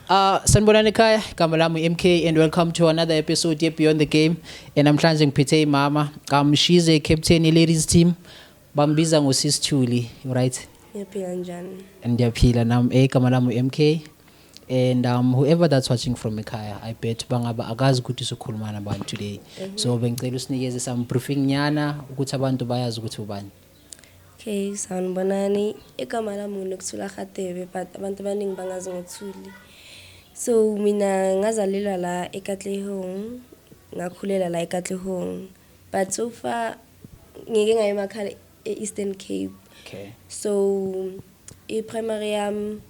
Uh, sanibonani ekhaya igama lami MK and welcome to another episode ye Beyond the Game. And namhlanje ngiphethe imama. Um she's a captain ye ladies team. Bambiza ngo Sis Thuli, right? Ngiyaphila njani? Ndiyaphila nam eh igama lami uMK and um whoever that's watching from ekhaya I bet bangaba akazi ukuthi usukhuluma nabantu today. So bengicela usinikeze some briefing nyana ukuthi abantu bayazi ukuthi ubani. Okay, sanibonani. Igama lami uNokuthula Khatebe but abantu abaningi bangazi ngokuthuli. So mina ngazalelwa la eKatlehong, ngakhulela la eKatlehong. But so far ngike ngaye emakhala e-eastern cape okay so i-primary yam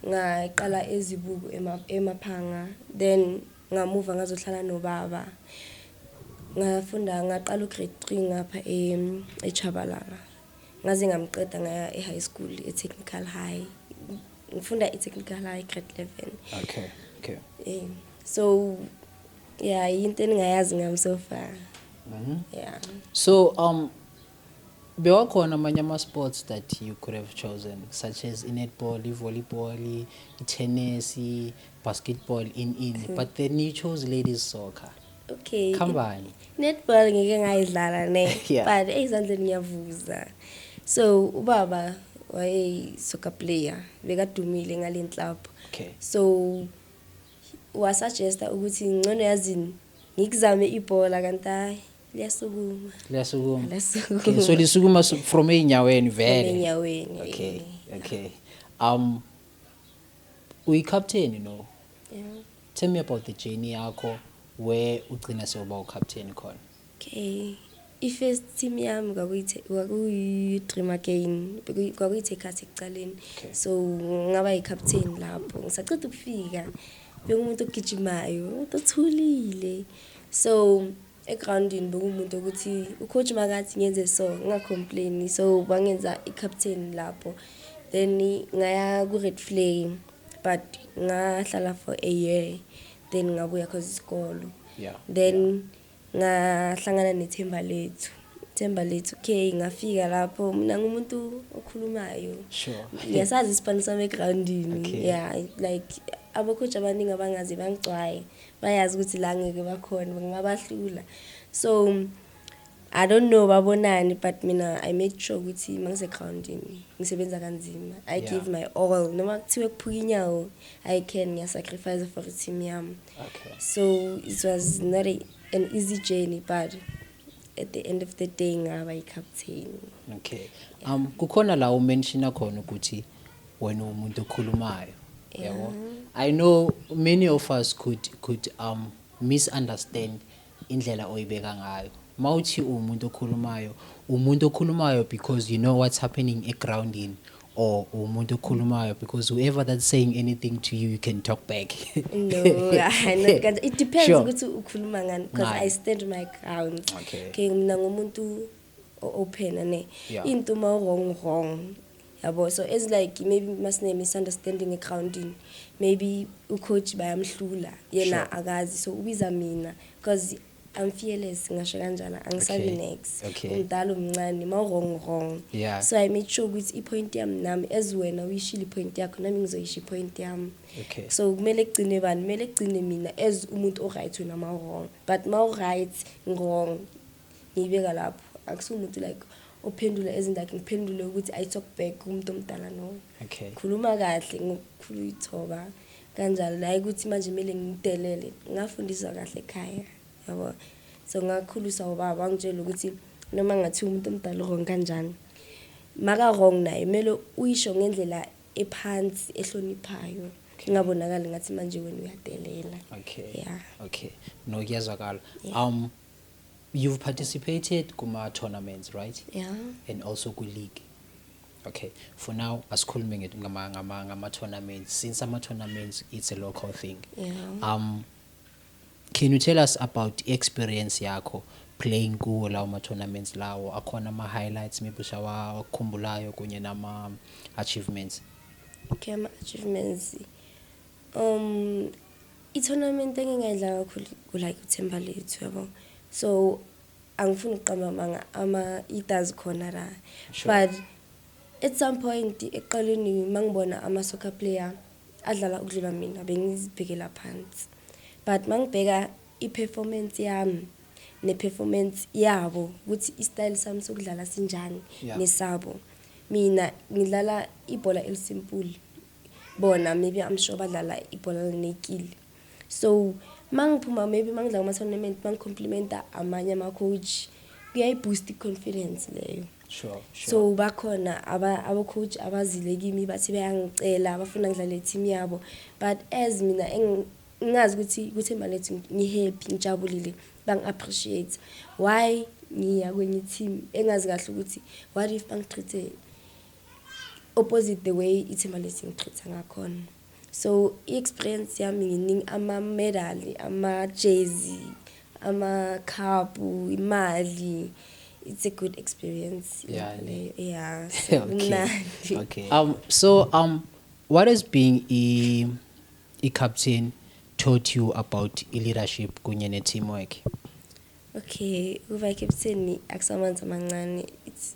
ngaqala ezibuku emaphanga then ngamuva ngazohlala nobaba ngafunda ngaqala ugrade three ngapha echabalala ngaze ngamqeda ngaya e-high school e-technical high ngifunda i-technical high grade eleven okay okay um so ya yinto eningayazi ngami so far mhm. ya so um bewakhona amanye ama-sports that you could have chosen such as i-netball i-volleyball i-tennis i-basketball in in mm. but then you chose ladies soccer okay khambani netball ngike ngayidlala ne yeah. but eyizandleni ngiyavuza so ubaba wayeyi-soccer player bekadumile ngale nhlapho okay. so Wasajesta ukuthi ngcono yazini ngikuzame ibhola kanti hayi liyasukuma. Liyasukuma. Liyasukuma. Okay, so lisukuma su- from ey'nyaweni vele. Enyaweni. Okay, okay. Um uyikapteni no? Yeah. Tell me about the journey yakho where ugcina sewuba ucaptain khona. Okay. I-first team yami kwakuyi-dream again kwakuyithi ekhathi ekucaleni so ngaba yi-captain lapho ngisaceda ukufika bekumuntu ogijimayo umuntu othulile so egroundini bekuwumuntu ukuthi ucoach makathi ngenze so ngingacomplaini so bangenza i-captain lapho then ngaya ku-red flay but ngahlala for a year then ngabuya cause isikolo yeah, then yeah. Ngahlangana nethemba lethu themba lethu okay ngafika lapho mina ngumuntu okhulumayo sure ngiyasazi isipani sami egroundini okay. yeah like abakhoji abaningi abangazi bangigcwaye bayazi ukuthi la ngeke bakhona ngibabahlula so i don't know babonani but mina i made sure ukuthi mangisegroundini ngisebenza kanzima i yeah. give my all noma kuthiwe kuphuka inyawo i can ngiyasacrifice for team yami okay. so it was not a, an easy journey but at the end of the day ngaba i-captain okay um kukhona la umenshina khona ukuthi wena umuntu okhulumayo yabo i know many of us could could um misunderstand indlela oyibeka ngayo mawuthi uwumuntu okhulumayo umuntu okhulumayo because you know what's happening egroundini or umuntu okhulumayo because whoever that's saying anything to you you can talk back no I not kanjalo it depends Sure. ukuthi ukhuluma ngani because Ngani? i stand my ground Okay. okay mina ngumuntu open ane yeah. into uma wrong wrong yabo so as like maybe masine misunderstanding egroundini maybe ucoach bayamhlula yena sure. akazi so ubiza mina because I'm fearless ngasho kanjana angisabi okay. next okay. umdala umncane ma wrong wrong yeah. so I made sure ukuthi ipoint yami nami as wena uyishile ipoint yakho nami ngizoyisha ipoint yami okay. so kumele kugcine bani kumele kugcine mina as umuntu oright wena ma wrong but ma right wrong ngiyibeka lapho akusiwo umuntu like ophendula ezindakhe ngiphendule ukuthi i talk back kumuntu omdala no okay khuluma kahle ngokukhulu ithoba kanjalo naye ukuthi manje kumele ngidelele ngafundiswa kahle ekhaya yabo so ngakhuliswa ubaba ngitshela ukuthi noma ngathi umuntu omdala wrong kanjani maka wrong naye kumele uyisho ngendlela ephansi ehloniphayo ingabonakali ngathi manje wena uyadelela okay yeah okay nokuyezwakala um You've participated kuma tournaments, right? Yeah. And also ku league. Okay. For now asikhulume ngethi ngama ngama ngama tournaments. Since ama tournaments it's a local thing. Yeah. Um can you tell us about experience yakho playing kuwo lawo ma tournaments lawo akhona ama highlights maybe ushawa wakukhumbulayo kunye nama achievements? Okay, ama achievements Um i-tournament engingayidla kakhulu ku-like uthemba lethu yabo so angifuni ukuqamba amanga ama itas khona la but at some point eqaleni mangibona ama soccer player adlala ukudlula mina bengizibhekela phansi but mangibheka i-performance yami ne-performance yabo ukuthi i-style sami sokudlala sinjani nesabo mina ngidlala ibhola elisimple bona maybe i'm sure badlala ibhola lenekile so mangiphuma maybe mangidla kuma tournament mangicomplimente amanye ama coach kuyayiboost iconfidence leyo sure, sure. so bakhona abocoach aba abazile kimi bathi bayangicela abafuna ngidlale team yabo but as mina ngazi ukuthi kuthemba lethu ngihappy ngijabulile bangi-appreciate why ngiya kwenye i-team engazi kahle ukuthi what if bangitreat-e opposite the way ithimba lesi ngiqhitha ngakhona so i-experience yami nginingi ama-medali ama-jezi amakhabhu imali it's a good experience yeah, leyo yeah so mnandi okay um so um what is being a, a captain taught you about leadership kunye ne-teamwork okay ukuba i-captain akusamanzi amancane it's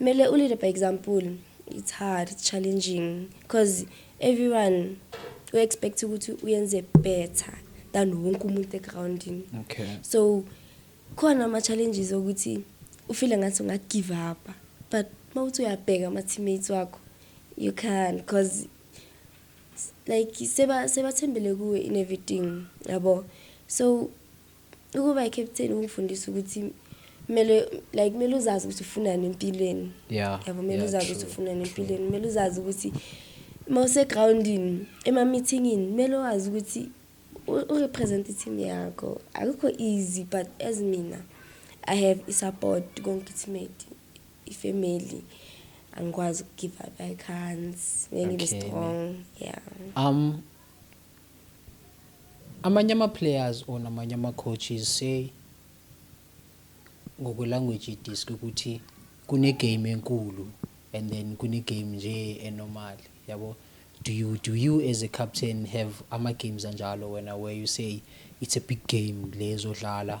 Mele u lead by example. It's hard, it's challenging because everyone u expect ukuthi uyenze better than wonke umuntu egroundini. Okay. So khona ama challenges ukuthi ufile ngathi unga give up but mawuthi uyabheka ama teammates wakho you can because like seba sebathembele kuwe in everything yabo so ukuba i-captain ukufundisa ukuthi kumele like kumele uzazi ukuthi ufunani empilweni yeah yabo kumele yeah, uzazi ukuthi ufunani empilweni kumele uzazi ukuthi uma usegroundini ema-meetingini kumele wazi ukuthi urepresent i-team yakho akukho easy but as mina i have i-support konke i-teammate i-family angikwazi ukugive up i can't bengibe okay. strong yeah um Amanye ama players or namanye ama coaches say ngokwe language disk ukuthi kune game enkulu and then kune game nje enormal yabo do you do you as a captain have ama games anjalo wena where you say it's a big game lezodlala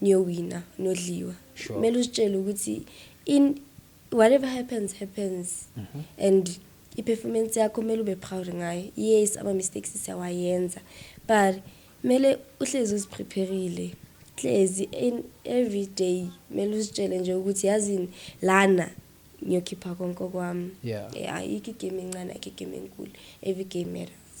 niyowina nodliwa sure. kumele uzitshele ukuthi in whatever happens happens mm -hmm. and i-performance yakho kumele ube proud ngayo yes ama-mistakes siyawayenza but kumele uhlezi uziprepherile hlezi every day kumele uzitshele nje ukuthi yazini lana ngiyokhipha konke kwami yeah. yeah ayikho igame encane ayikho igame enkulu every game matters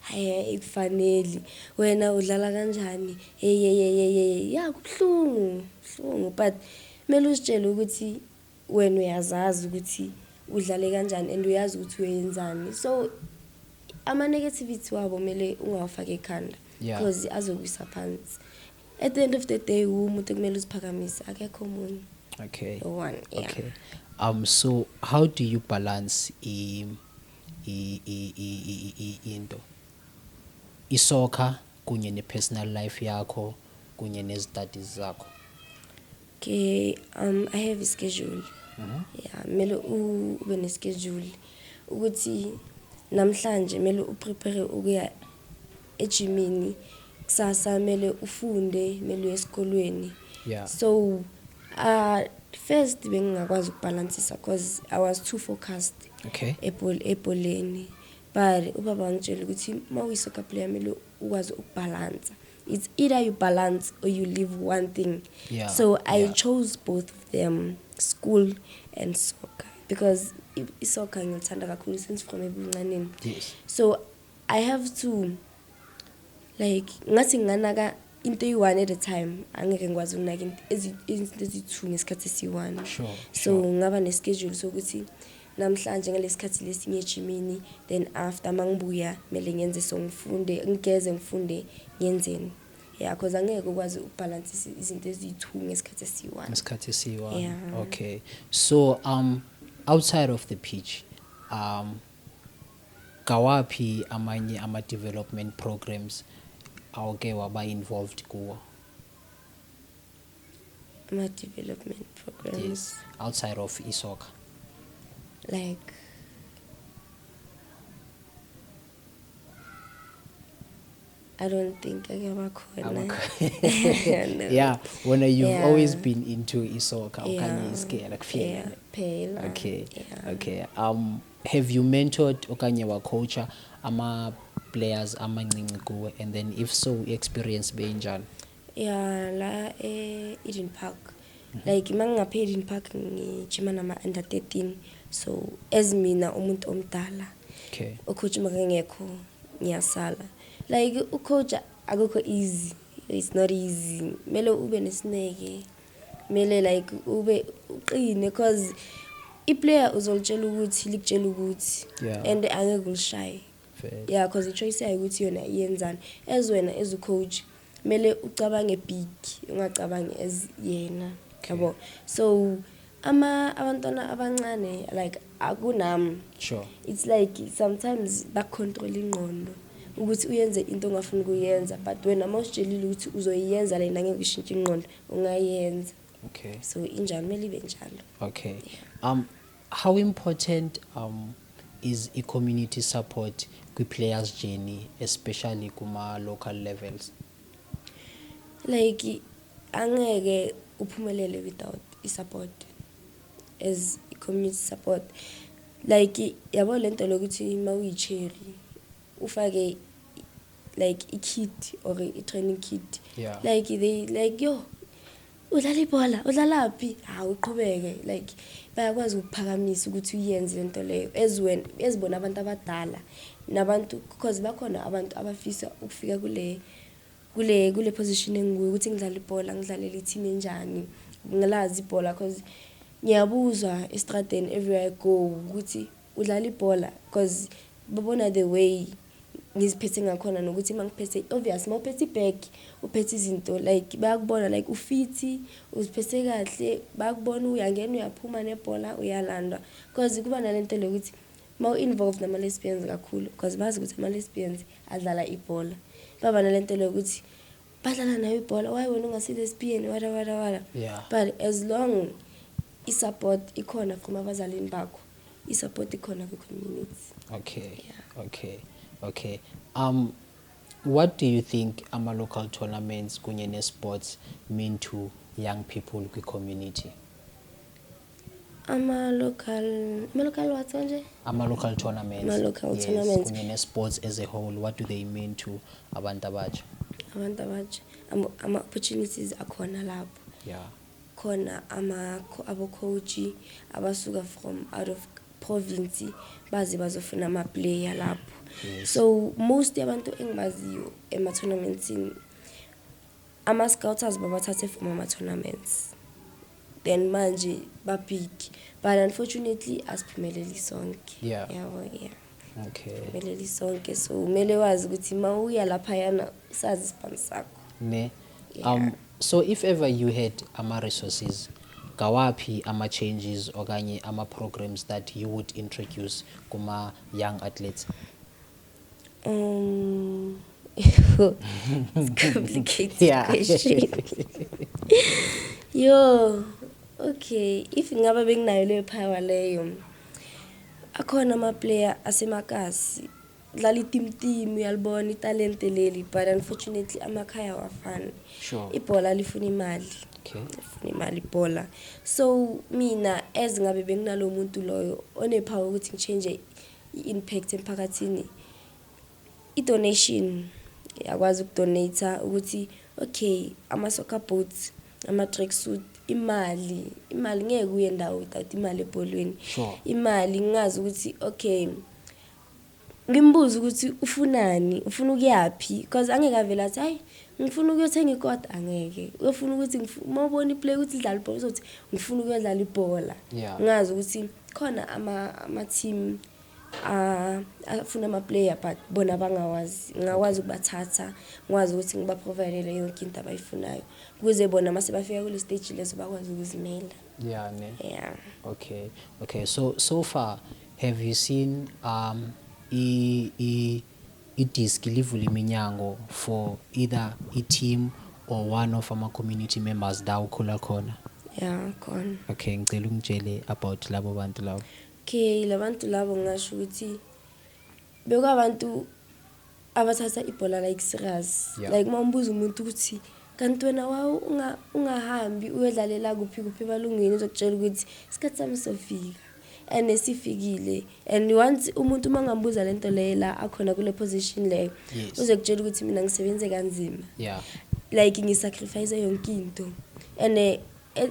Hhay ayikufaneli wena udlala kanjani eyeyeyeyeye ya kubuhlungu buhlungu but kumele uzitshele ukuthi wena uyazazi ukuthi udlale kanjani and uyazi ukuthi uyoyenzani so ama-negativity wabo kumele ungawafaki ekhanda Yeah. because azokwisa phansi at the end of the day wumuntu ekumele uziphakamise akekho omunye okay one yeah. okay um so how do you balance i into isoccer kunye ne-personal life yakho kunye nezi-studies zakho okay um i have a schedule mhm. ya kumele ube ne-schedule ukuthi namhlanje kumele uprepare ukuya ejimini kusasa kumele ufunde kumele uye esikolweni yeah. so uh, first bengingakwazi ukubhalansisa because i was too focused okay. ebholeni but ubaba wangitshela ukuthi uma uyi-soccer player kumele ukwazi ukubhalansa it's either you balance or you leave one thing yeah. so i yeah. chose both of them school and soccer because isoccer ngilithanda kakhulu since from ebuncaneni yes. so I have to like ngathi nginganaka into eyi-one at a time angeke ngikwazi ukunaka izinto eziyi-two ngesikhathi esiyi-one sure, so sure. ngaba neschedule sokuthi namhlanje ngalesikhathi lesinye ejimini then after mangibuya kumele ngenze so ngifunde ngigeze ngifunde ngenzeni yeah because angeke ukwazi ukubhalansa izinto eziyi-two ngesikhathi esiyi-one ngesikhathi esiyi-one yeah. okay so um outside of the pitch um Ngawaphi amanye ama development programs awke waba involved kuwo? Ama development programs. Yes, outside of isoccer. Like I don't think ake bakhona. no. Yeah, when you've yeah. always been into isoccer yeah. okanye iskela kuphela. Yeah, phela. Okay. Yeah. Okay. Um have you mentored okanye wa coacha ama players amancinci kuwe and then if so experience benjani? ya la e-eden park mm -hmm. like uma ngingapha e-eden park ngijima nama-under 13 so as mina umuntu omdala okay. ucoach makangekho ngiyasala like ucoach akukho easy it's not easy kumele ube nesineke kumele like ube uqine cause iplayer uzolitshela ukuthi likutshela ukuthi yeah. and angeke ulishaye yeah cause ichoice yayo ukuthi yona iyenzani as wena as ucoach kumele ucabange big ungacabangi as yena yabo so ama abantwana abancane like akunami sure it's like sometimes bacontrol ingqondo ukuthi uyenze into ongafuni kuyenza but wena uma usitshelile ukuthi uzoyiyenza lena ngeke ushintshe ingqondo ungayenza okay so injalo kumele ibe njalo okay um How important um, is i-community support kwi-players journey especially kuma-local levels? Like angeke uphumelele without i-support as i-community support like yabo le nto lokuthi uma uyi-cherry ufake like i-kit or i-training kit yeah. like they like yo udlala ibhola udlalaphi hawu uqhubeke like bayakwazi ukuphakamisa ukuthi uyenze lento leyo ezweni ezibona abantu abadala nabantu because bakhona abantu abafisa ukufika kule kule kule position engikuyo ukuthi ngidlala ibhola ngidlalele i-team enjani ngilazi ibhola because ngiyabuzwa estradeni everywhere i go ukuthi Udlala ibhola coz babona the way ngiziphethe ngakhona nokuthi uma ngiphethe obvious uma uphethe ibag uphethe izinto like bayakubona like ufithi uziphethe kahle bayakubona uyangena uyaphuma nebhola uyalandwa because kuba nale nto le ukuthi uma u-involved nama-lesbians kakhulu because bazi ukuthi ama-lesbians adlala ibhola baba nale nto le ukuthi badlala nayo ibhola waye wena ungasi-lesbian wara wara wara but as long i-support ikhona from abazalini bakho i-support ikhona kwi-community okay yeah. okay okay um what do you think ama-local tournaments kunye ne-sports mean to young people kwi-community ama-local ama-local what manje ama-local tournaments ama-local yes, tournaments kunye ne-sports as a whole what do they mean to abantu abatsha abantu abatsha ama-opportunities akhona lapho yeah khona ama abo coach abasuka from out of province baze bazofuna ama player lapho yes. so most yabantu engibaziyo ema tournaments ama scouters babathathe from ama tournaments then manje babhiki but unfortunately asiphumeleli sonke yeah. yabo yeah okay phumeleli sonke so kumele wazi ukuthi uma uya lapha yana usazi isibhamu sakho ne Yeah. Um, so if ever you had ama-resources ngawaphi ama-changes okanye ama-programs that you would introduce kuma-young athletes um it's complicated yeah. question yo okay if ngaba benginayo leyo power leyo akhona ama-player asemakasi Dlala itimtimu uyalibona italente leli but unfortunately amakhaya awafani. Sure. Ibhola lifuna imali. Okay. Lifuna imali ibhola. So mina as ngabe benginalo muntu loyo onepower ukuthi ngichange i-impact emphakathini. I-donation yakwazi ukudonate ukuthi okay ama soccer boots ama track suit imali imali ngeke uye ndawo without imali ebholweni sure. imali ngingazi ukuthi okay Ngimbuze ukuthi ufunani, ufuna ukuyaphi because angeke avele athi hayi ngifuna ukuyothenga ikota angeke. Uyofuna ukuthi uma ubona iplay ukuthi idlala ibhola uzothi ngifuna ukuyodlala ibhola. Yeah. Ngazi ukuthi khona ama ama team afuna ama-player but bona bangawazi ngingakwazi ukubathatha ngikwazi ukuthi ngibaprovidele yonke into abayifunayo ukuze bona uma sebafika kule stage leso bakwazi ukuzimela ya ne ya okay okay so so far Have you seen um i i i disk livula iminyango for either i team or one of ama community members la ukhula khona? Yeah, khona. Okay, ngicela ungitshele about labo bantu labo. Okay, labantu labo ngasho ukuthi bekwabantu abathatha ibhola like serious yeah. like uma umbuza umuntu ukuthi kanti wena wawu ungahambi unga uyodlalela kuphi kuphi emalungwini uzokutshela ukuthi isikhathi sami sofika and esifikile and once umuntu uma ngambuza le nto leyo la akhona kule position leyo yes. uzokutshela ukuthi mina ngisebenze kanzima yeah. like ngisacrifice yonke into and eh, eh,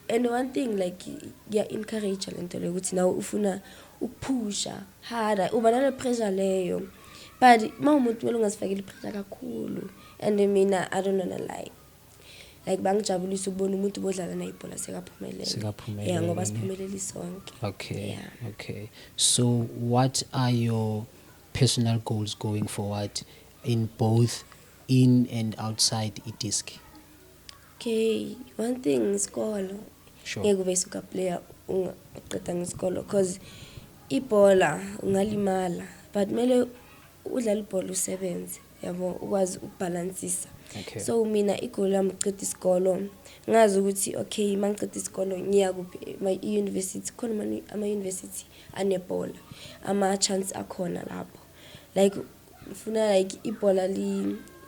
And one thing like ya encourage lento leyo ukuthi nawe ufuna ukuphusha harder uba nale pressure leyo but uma umuntu kumele ungazifakeli pressure kakhulu and mina i don't wanna lie like bangijabulisa ukubona umuntu bodlala naye ibhola sekaphumelele sekaphumelele yeah ngoba siphumelele sonke okay yeah. okay so what are your personal goals going forward in both in and outside idisc Okay, one thing ngisikolo. Sure. Ngeke ube suka player ungaqeda ngisikolo cause ibhola ungalimala but mele udlala ibhola usebenze yabo ukwazi ukubhalansisa okay. so mina igolo lami uqeda isikolo ngazi ukuthi okay uma ngiqeda isikolo ngiya kuphi i-university khona ama-university anebhola ama-chance akhona lapho like ngifuna like ibhola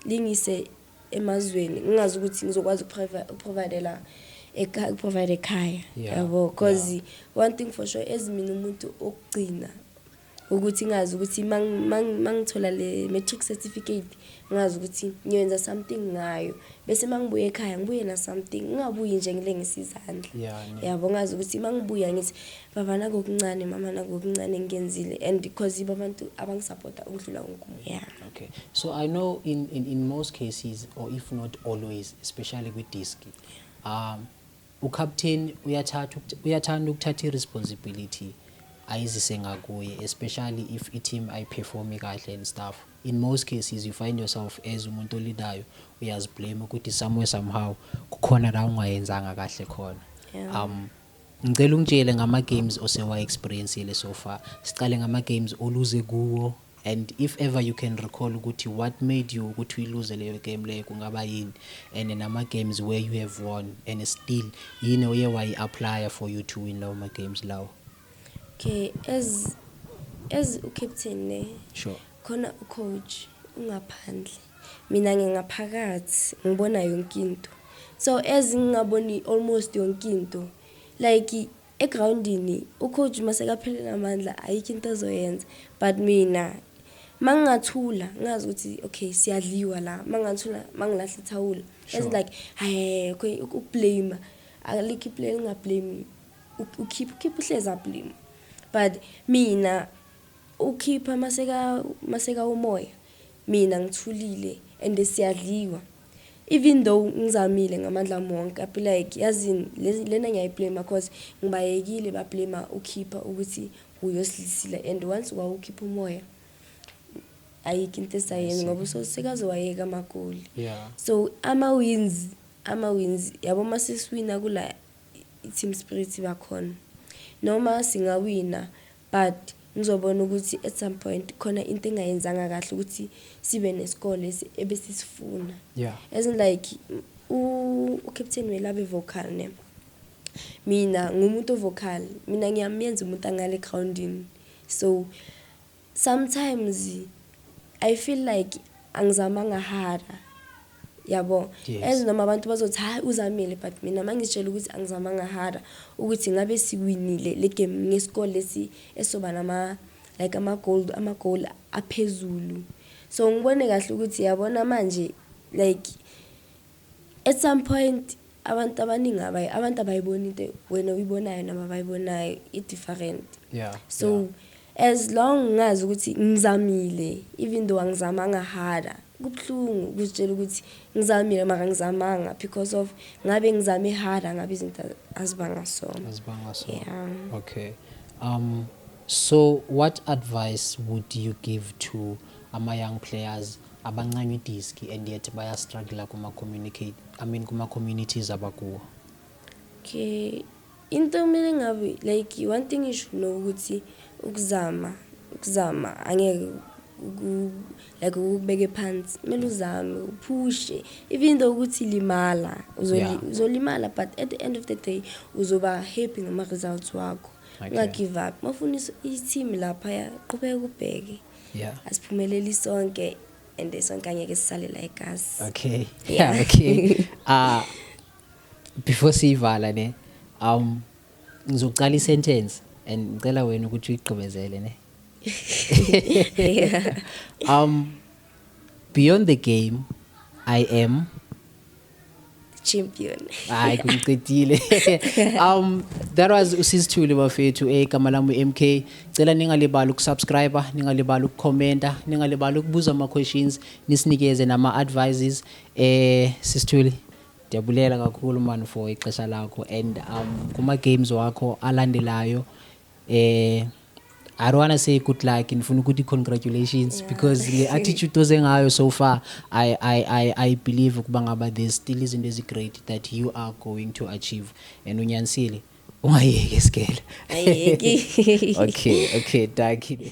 lingise emazweni ngingazi ukuthi ngizokwazi ukuprovidela ukuprovide ekhaya yabo because one thing for sure as mina umuntu okugcina ukuthi ngazi ukuthi mangithola le matric certificate ngazi ukuthi ngiyoyenza something ngayo bese mangibuye ekhaya ngibuye na something ngingabuyi nje ngile ngisizandla yabo ngazi ukuthi mangibuya ngithi Baba nakokuncane mama nakokuncane engikenzile and because yibo abantu abangisapota ukudlula wonke umuntu yeah okay so i know in, in, in most cases or if not always especially kwi-disc um ucaptain uyathatha uyathanda ukuthatha i-responsibility ayizise ngakuye especially if i-team ayiperformi kahle and stuff in most cases you find yourself as umuntu olidayo uyaziblame ukuthi somewhere somehow kukhona la ungayenzanga kahle khona um Ngicela ungitshele ngama games osewa experiencile so far. Siqale ngama games oluze kuwo and if ever you can recall ukuthi what made you ukuthi uyiluze leyo game leyo kungaba yini and nama games where you have won and still yini oye wayi apply for you to win lawo ma games lawo. Okay, as as u captain ne. Sure. Khona u coach ungaphandle. Mina ngingaphakathi ngibona yonke into so as ngingaboni almost yonke into like egroundini ucoach masekaphelele amandla ayikho into azoyenza but mina mangingathula ngazi ukuthi okay siyadliwa la mangingathula mangilahle ithawula as like hayi okay ukublame alikho iplay lingablame ukhipha ukhipha uhleza blame but mina ukhipha maseka maseka umoya Mina ngithulile and siyadliwa even though ngizamile ngamandla ami wonke I be like yazini lena ngiyayi blamer cause ngibayekile ba blamer uKhipha ukuthi uyoslisile and once wawukhipha umoya ayikho into esayenza ngoba usosikaze wayeka amagoli so ama wins ama wins yabo uma sesiwina kula i-team spirit bakhona noma singawina But ngizobona ukuthi at some point khona into engayenzanga kahle ukuthi sibe nesikole ebesisifuna. Yeah. As in like uCaptain Welabe vocal ne. Mina ngumuntu vocal, mina ngiyamenza umuntu angale groundini. So sometimes I feel like angizamanga hara. yabo yes. as noma abantu bazothi hayi uzamile but mina mangitshela ukuthi angizamanga hara ukuthi ngabe siwinile le game ngesikole lesi esoba nama like ama-gold ama-goal aphezulu so ngibone kahle ukuthi yabona manje like at some point abantu abaningi abayi abantu abayiboni into wena uyibonayo noma abayibonayo i-different yeah, so yeah. as long ngazi ukuthi ngizamile even though angizamanga hara Kubuhlungu ukuzitshela ukuthi ngizamile mara ngizamanga because of ngabe ngizame harder ngabe izinto azibanga sona. Azibanga sona. Yeah. Okay. Um so what advice would you give to ama young players abancanywa idisk and yet baya struggle kuma communicate I mean kuma communities abakuwo? Okay. Into okumele ngabe like one thing you should know ukuthi ukuzama ukuzama angeke like ukubeke phansi kumele uzame uphushe even though ukuthi limala uzolimala yeah. but at the end of the day uzoba happy ngama results wakho unga okay. give up mafuna i-team lapha ya qhubeka ubheke yeah. asiphumeleli sonke and sonke angeke sisale la egazi okay yeah, yeah okay uh, before siyivala ne um ngizoqala isentence and ngicela wena ukuthi uyigqibezele ne um beyond the game i am champion hayi kungiqedile um that was usisithule bafethu egama eh, lami MK cela ningalibali ukusubscribe ningalibali ukucommenta ningalibali ukubuza ama questions nisinikeze nama advices eh sisithule Ndiyabulela kakhulu man for ixesha lakho and um kuma games wakho alandelayo eh I don't wanna say good luck ndifuna ukuthi congratulations yeah. because le attitude oze ngayo so far I I I I believe ukuba ngaba there's still izinto ezi great that you are going to achieve and unyanisile ungayeki isikele ayeki okay okay dankie